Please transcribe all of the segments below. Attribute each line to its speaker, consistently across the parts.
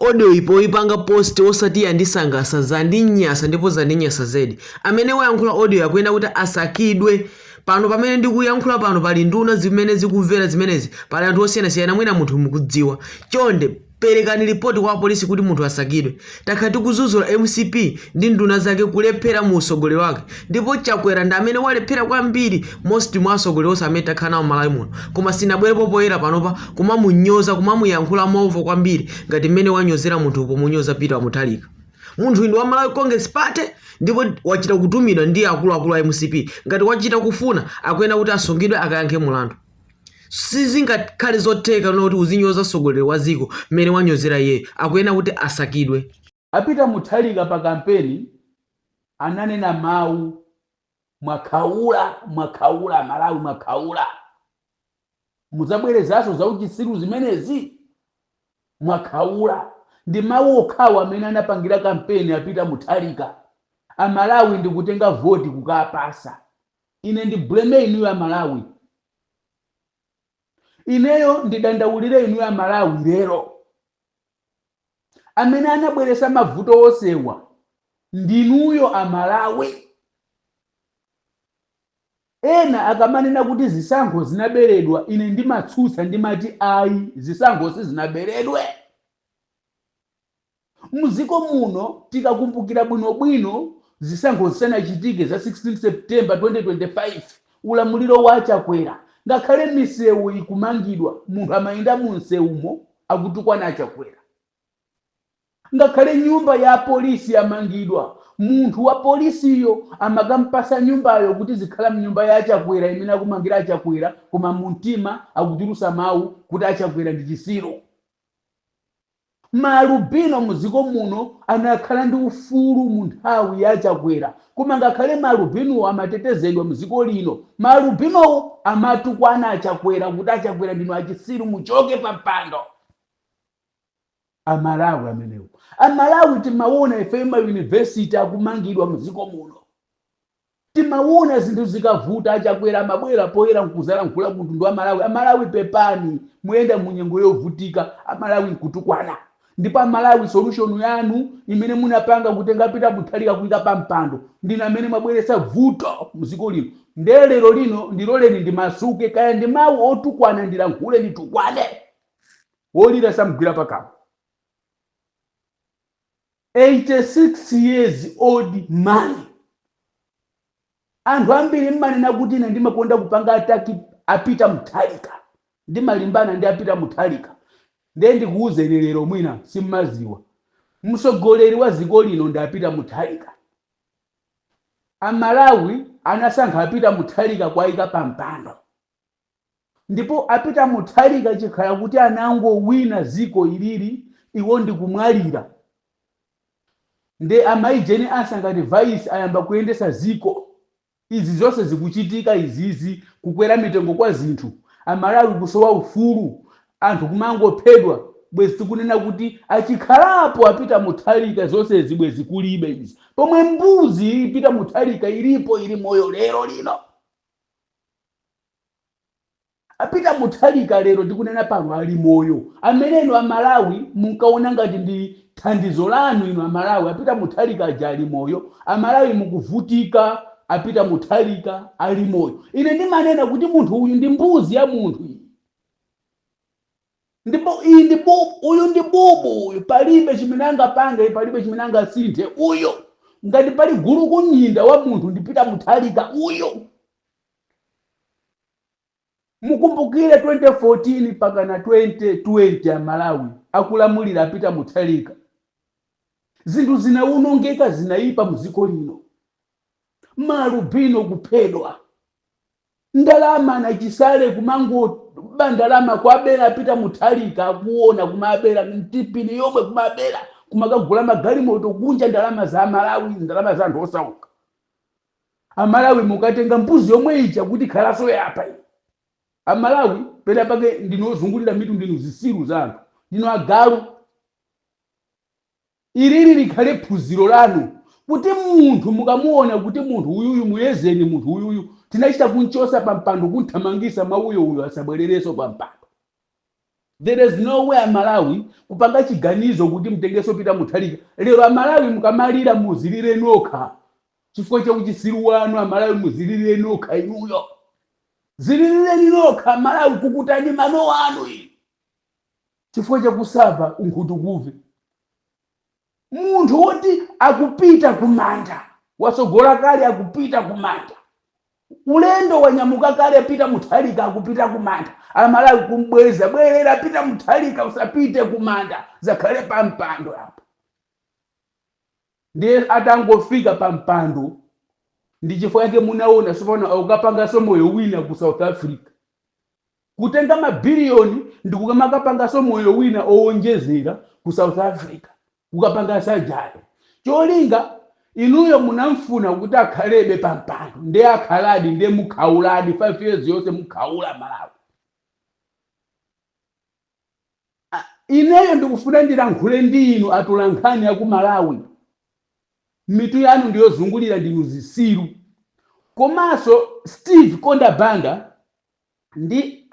Speaker 1: Audio iyi poyipanga post osati yandisangasa zandinyasa ndipo zandinyasa zedi amene wayankhula audio iyi akuyenera kuti asakidwe pano pamene ndikuyankhula pano pali nduna zimene zikumvera zimenezi pali anthu osiyanasiyana mwina munthuyu mukumudziwa chonde perekani lipoti kwa apolisi kuti munthuyu asakidwe takhala tikuzuzula mcp ndi nduna zake kulephera mu usogoleri wake ndipo chakwera ndi amene walephera kwambiri more so mwa atsogoleri onse amene takhala nawo malawi muno koma sinabwerepo poyera panopa kumamunyoza kumamuyankhula movuta kwambiri ngati mmene wanyozera munthuyu pomunyoza peter wamuthalika munthuyu ndi wa malawi congress party ndipo wachita kutumidwa ndi akuluakulu a mcp ngati wachita kufunika akuyenera kuti asungidwe akayankhe mulandu sizingakhale zotheka kuti uzinyoza mtsogoleri wa dziko mmene wanyozera iyeyo akuyenera kuti asakidwe A Peter Mutharika pa kampeni ananena mawu mwakhaula mwakhaula amalawi mwakhaula mudzabwerezanso za uchitsiru zimenezi mwakhaula ndi mawu okhawo amene anapangira kampeni a Peter Mutharika amalawi ndikutenga voti kukapasa ine ndibleme inuyo amalawi ineyo ndidandaulire inuyo amalawi lero amene anabweresa mavuto onsewa ndinuyo amalawi ena akamanena kuti zisankho zinaberedwa ine ndimatsutsa ndimati ayi zisankho sizinaberedwe muziko muno tikakumbukira bwinobwino zisankho zisanachitike za 16 september 2025 ulamuliro wa achakwera ngakhale misewu ikumangidwa munthu amayenda mu msewumo akutukwana a Chakwera. Ngakhale nyumba ya apolisi yamangidwa, munthu wa polisiyo amakampasa nyumbayo kuti uzikhala mnyumba ya a Chakwera imene akumangira a Chakwera koma mumtima akutulusa mawu kuti a Chakwera ndi chisiru. Ma alubino mdziko muno anakhala ndi ufulu munthawi ya a Chakwera Koma ngakhale ma alubinowo amatetezedwa mu dziko lino, ma alubinowo amatukwana a Chakwera kuti a Chakwera ndinu achitsiru muchoke pa mpando. A Malawi amenewo. A Malawi timawona ifeyo ma university akumangidwa mu dziko muno. Timawona zinthu zikavuta a Chakwera amabwera poyera nkuzalankhula ku mtundu wa a Malawi. A Malawi pepani, muyenda mu nyengo yovutika, a Malawi nkutukwana. ndipo amalawi solution yanu imene munapanga kutenga pita muthalika kuika pa mpando ndinu amene mwabweretsa vuto mziko lino nde lero lino ndiloleni ndimasuke kaya ndi mawu otukwana ndilankhule nditukwane wolira samgwira pakama 86 years old man Anthu ambiri mmanena kuti ine ndimakonda kupanga attack a Peter Mutharika, ndimalimbana ndi a Peter Mutharika, nde ndikuuzeni lero mwina simmaziwa, mtsogoleri wa ziko lino ndi a Peter Mutharika, a Malawi anasankha a Peter Mutharika kuwaika pa mpando. Ndipo a Peter Muthalika achikhala kuti anangowina ziko ilili iwo ndikumwalira nde a Mayi Jane Ansah ngati vice ayamba kuyendesa ziko izi zonse zikuchitika izizi kukwera mitengo kwa zinthu a Malawi kusowa ufulu anthu kumangophedwa bwezi tikunena kuti achikhalapo a Peter Muthalika zonsezi bwezi kulibe izi pomwe mbuzi iyi Peter Muthalika ilipo ili moyo lero lino. A Peter Mutharika lero tikunena pano ali moyo, amene inu a Malawi munkaona ngati ndi thandizo lanu inu a Malawi, a Peter Mutharika aja ali moyo, a Malawi mukuvutika, a Peter Mutharika ali moyo. Ine ndimanena kuti munthu uyu ndi mbuzi ya munthu iyi. Ndipo iyi ndi bubu, uyu ndi bubu uyu, palibe chimene angapange, palibe chimene angasinthe uyu. Ngati pali gulukunyinda wa munthu ndi Peter Mutharika uyu. Mukumbukire 2014 pakana 2020 a Malawi akulamulira a Peter Mutharika zinthu zinawonongeka zinayipa mu dziko lino. Ma alubino kuphedwa, ndalama anachisale kumangoba ndalama kuwabera a Peter Mutharika akuwona kumawabera TPIN yomwe kumawabera kumakagula magalimoto kunja ndalama za a Malawi ndalama za anthu osauka. Amalawi mukatenga mbuzi yomwe ija kuti ikhaleso yapa iyi. Amalawi pena pake ndinu ozungulira mitu ndinu zisiru za anthu ndinu agalu. Ilili likhale phunziro lanu kuti munthu mukamuona kuti munthu uyuyu muyezeni munthu uyuyu tinachita kunchosa pampando kunthamangisa mwauyo uyo asabwelereso pampando. There is no way amalawi kupanga chiganizo kuti mtengeso Peter Mutharika lero amalawi mukamalira muzililireni nokha chifukwa cha uchisiru wanu amalawi muzililireni nokha inuyo zililireni nokha amalawi kukutani mano anu inu chifukwa chakusava unkhutukuve Munthu woti akupita ku manda, watsogola kale akupita ku manda. Ulendo wanyamuka kale a Peter Mutharika akupita ku manda. Amalawi kumbweza bwelera Peter Mutharika usapite ku manda zakhale pa mpando apa. Ndiye atangofika pa mpando ndi chifukwa chake munaona sopano akukapangaso moyo wina ku South Africa. Kutenga ma billion ndikukamakapangaso moyo wina owonjezera ku South Africa kukapanga surgery. Cholinga inuyo munkafuna kuti akhalebe pa mpando nde akhaladi nde mukhauladi 5 years yonse mukhaula amalawi. Ineyo ndikufuna ndilankhule ndi inu atolankhani aku Malawi mitu yanu ndiyozungulira ndinu zisiru. Komaso Steve Kondwa Banda ndi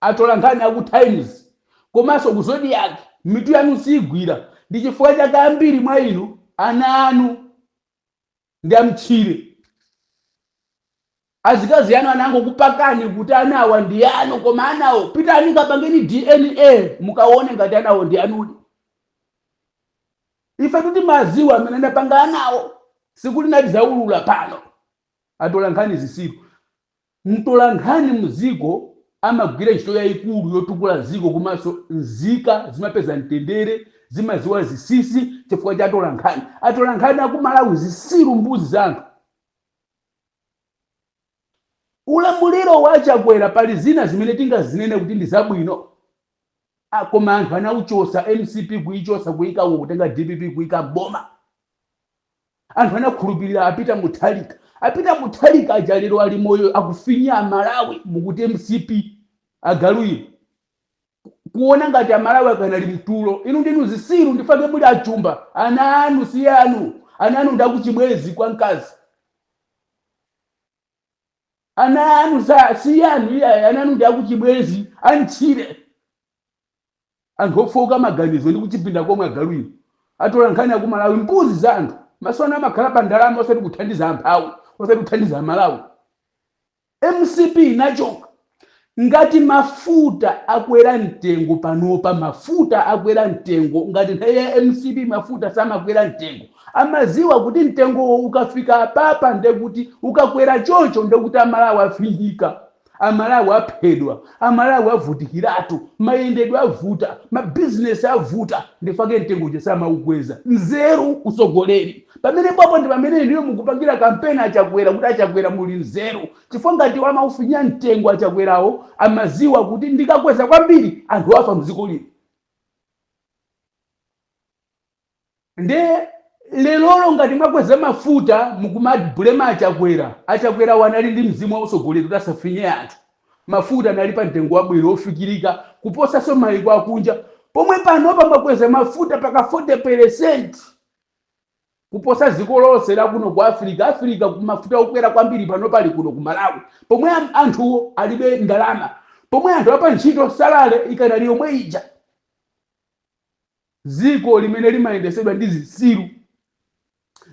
Speaker 1: atolankhani aku Times komanso ku Zodiak mitu yanu siigwira ndi chifukwa chake ambiri mwa inu ana anu ndi amtchire. Azikazi anu anangokupakani kuti anawa ndi anu koma anawo pitani kapangeni DNA mukaone ngati anawo ndi anudi. Ife kuti timaziwa amene anapanga anawo sikuti sitizaulula pano. Atolankhani zisiru. Mtolankhani mdziko amagwira ntchito yaikulu yotukula dziko komanso nzika zimapeza mtendere, zimadziwa zinsinsi chifukwa cha atolankhani. Atolankhani aku Malawi zitsiru mbuzi za anthu. Ulamuliro wa a Chakwera pali zina zimene tingazinene kuti ndi zabwino koma anthu anauchotsa, mcp kuichotsa kuika uko kutenga dpp kuika m'boma. Anthu anakhulupilira a Peter Mutharika. A Peter Mutharika aja lero ali moyo akufinya a Malawi mukuti mcp. Agalu inu. Kuona ngati a Malawi akanali mtulo. Inu ndinu zisiru ndifake muli achumba. Ana anu si anu. Ana anu ndakuchibwezi kwa nkazi. Ana anu si anu iya ana anu ndakuchibwezi antchire. Anthu ofooka maganizo ndi kuchipinda komwe agalu inu. Atolankhani akumalawi mbuzi za anthu. Maso anu amakhala pa ndalama osati kuthandiza amphawi, osati kuthandiza amalawi. Mcp inachoka ngati mafuta akwera mtengo panopa mafuta akwera mtengo ngati nthawi ya mcp mafuta samakwera mtengo amaziwa kuti mtengowo ukafika apapa ndekuti ukakwera chocho ndekuti amalawi afinyika amalawi aphedwa amalawi avutikiratu mayendedwe avuta mabizinesi avuta ndifake mtengo uja samaukweza nzeru usogoleri pamenepapo ndi pamene inuyo mukupangira kampeni achakwera kuti achakwera muli nzeru chifukwa ngati amaufinya mtengo achakwerawo amaziwa kuti ndikakweza kwambiri anthu afa mdziko lino Nde lerolo ngati mwakweza mafuta mukumablema achakwera achakwerawo anali ndi mzimu wa utsogoleri kuti asafinye anthu mafuta anali pa mtengo wabwino ofikilika kuposaso maiko akunja pomwe panopa mwakweza mafuta paka 40% kuposa ziko lonse lakuno ku africa africa mafuta okwera kwambiri panopa ali kuno ku malawi pomwe am- anthuwo alibe ndalama pomwe anthu apa ntchito salale ikanali yomwe ija Dziko limene limayendetsedwa ndi zitsiru,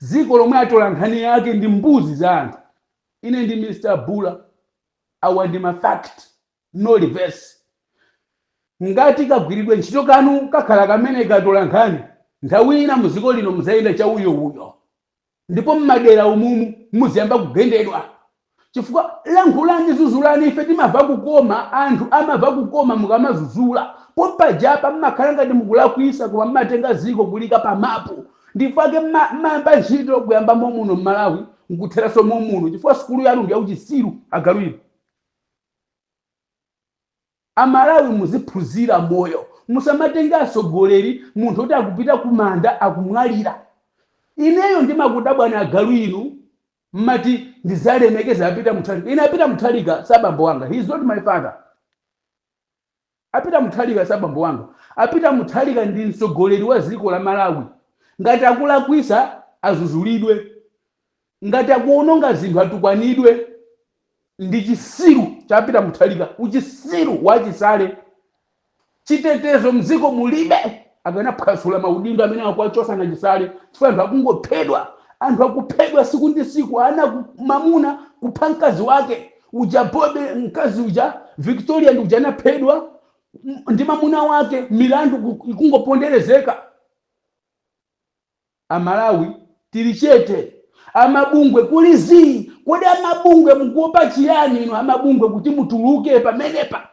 Speaker 1: dziko lomwe atolankhani ake ndi mbuzi za anthu. Ine ndi Mr Bula, awa ndi ma fact, no reverse. Ngati kagwiridwe ntchito kanu kakhala kameneka atolankhani, nthawi ina mu dziko lino mudzayenda chauyo-uyo. ndipo mmadera umumu muziyamba kugendedwa chifukwa lankhulani zuzulani ife timava kukoma anthu amava kukoma mukamazuzula pompajapa mmakhala ngati mukulakwisa koma mmatenga ziko kuliika pa mapu ndifake mmayamba ntchito kuyamba momuno mmalawi nkutheraso momuno chifukwa sukulu yanu ndiyauchisiru agalu inu Amalawi muziphuzira moyo musamatenge atsogoleri munthu oti akupita kumanda akumwalira ineyo ndimakudabwani agalu inu mmati ndizalemekeze apeter muthalika ine apeter muthalika sabambo wanga he is not my father apeter muthalika sabambo wanga apeter muthalika ndi mtsogoleri waziko lamalawi ngati akulakwisa azuzulidwe Ngati akuononga zinthu atukwanidwe ndi chisiru cha Peter Muthalika uchisiru wa chisale chitetezo mziko mulibe akanaphwasula maudindo amene akuwachosa na chisale chifukwa anthu akungophedwa anthu akuphedwa siku ndi siku ana ku, mamuna kupha mkazi wake uja bobe mkazi uja Victoria ndi uja anaphedwa ndi mamuna wake milandu ikungoponderezeka Amalawi tili chete, amabungwe kuli zii. Kodi amabungwe mukuopa chiyani inu amabungwe kuti mutuluke pamenepa?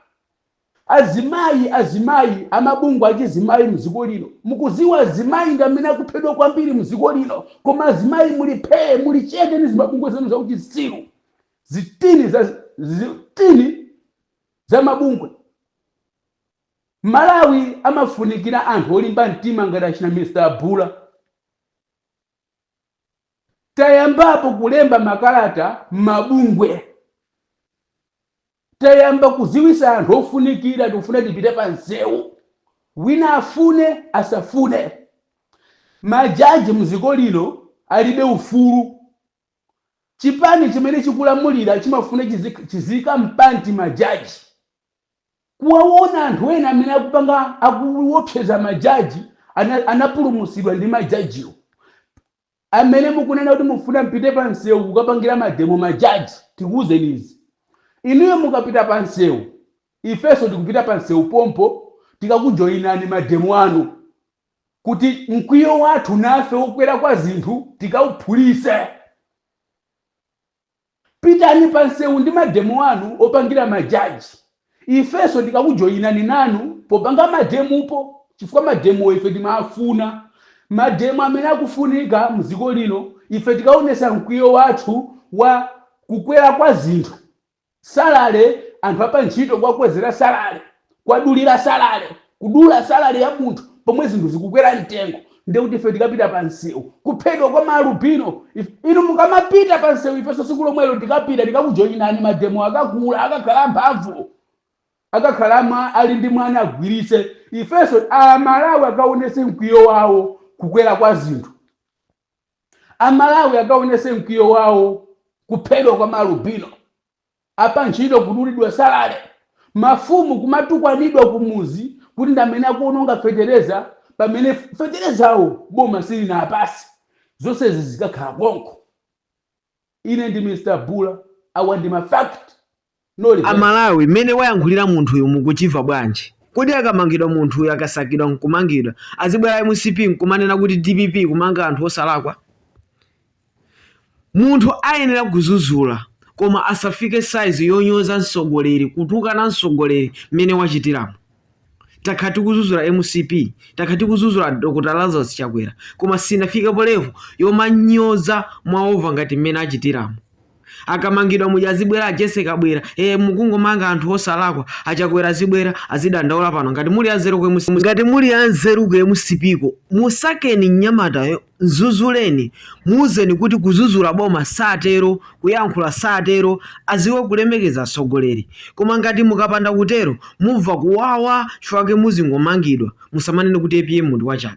Speaker 1: Azimayi, azimayi, amabungwe achizimayi mziko lino. Mukuziwa azimayi ndi amene akuphedwa kwambiri mziko lino koma azimayi muli phee, muli chete ndi zimabungwe zanu za uchitsiru. Zitini za zitini za mabungwe. Malawi amafunikira anthu olimba mtima ngati achina Mr a Bula. Tayambapo kulemba makalata mmabungwe. Tayamba kuziwisa anthu ofunikira tikufuna tipite pa nsewu. Wina afune asafune. Ma judge mziko lino alibe ufulu. Chipani chimene chikulamulira chimafuna chiziika mpanti ma judge. kuwawona anthu ena amene akupanga akuwopseza ma judge anapulumutsidwa ndi ma judgewo amene mukunena kuti mufuna mupite pa msewu kukapangira mademo ma judge tikuwuzeni izi inuyo mukapita pa msewu ifenso tikupita pa msewu pompo tikakujoyinani mademo anu kuti mkwiyo wathu nafe wokwera kwa zinthu tikauphulise Pitani pa nsewu ndi ma demo anu opangira ma judge. Ifenso tikakujoinani nanu popanga ma demo po chifukwa ma demowo ife timaafuna. Ma demo amene akufunika mziko lino ife tikaonesa mkwiyo wathu wa kukwera kwa zinthu, salary, anthu apa ntchito kuwakwezera salary. kuwadulira salary, kudula salary ya munthu pomwe zinthu zikukwera mtengo ndiye kuti ife tikapita pa msewu, kuphedwa kwa ma alubino if- inu mukamapita pa msewu ifenso siku lomwelo tikapita tikakujoyinani mademo akakula akakhala mphamvu akakhala mwa ali ndi mwana agwiritse ifenso amalawi akaonese mkwiyo wawo kukwera kwa zinthu amalawi akaonese mkwiyo wawo kuphedwa kwa malubino Apantchito kudulidwa salary, mafumu kumatukwanidwa kumuzi kuti ndamene akuononga fetereza pamene feterezawo boma silinawapase. Zonsezi zikakhala konko. Ine ndi Mr Bula awa ndi ma fact no A rehearse. Malawi mmene wayankhulira munthuyu mukuchimva bwanji? Kodi akamangidwa munthuyu akasakidwa nkumangidwa azibwera mcp nkumanena kuti dpp ikumanga anthu osalakwa? Munthu ayenera kuzuzula koma asafike size yonyoza mtsogoleri kutukana mtsogoleri mmene wachitiramu. Takhala tikuzuzula mcp, takhala tikuzuzula a Dr Lazarus Chakwera koma sitinafikepo level yomanyoza mwaova ngati mmene achitiramu. akamangidwa muja azibwera a Jessie Kabwila e, mukungomanga anthu osalakwa a Chakwera azibwera azidandaula pano ngati muli anzeru ku mcp ngati muli anzeru ku mcp ko musakeni mnyamatayo mzuzuleni muuzeni kuti kuzuzula boma satero kuyankhula satero aziwe kulemekeza atsogoleri koma ngati mukapanda kutero mumva kuwawa chifukwa chake muzingomangidwa musamanene kuti apm ndi wachabe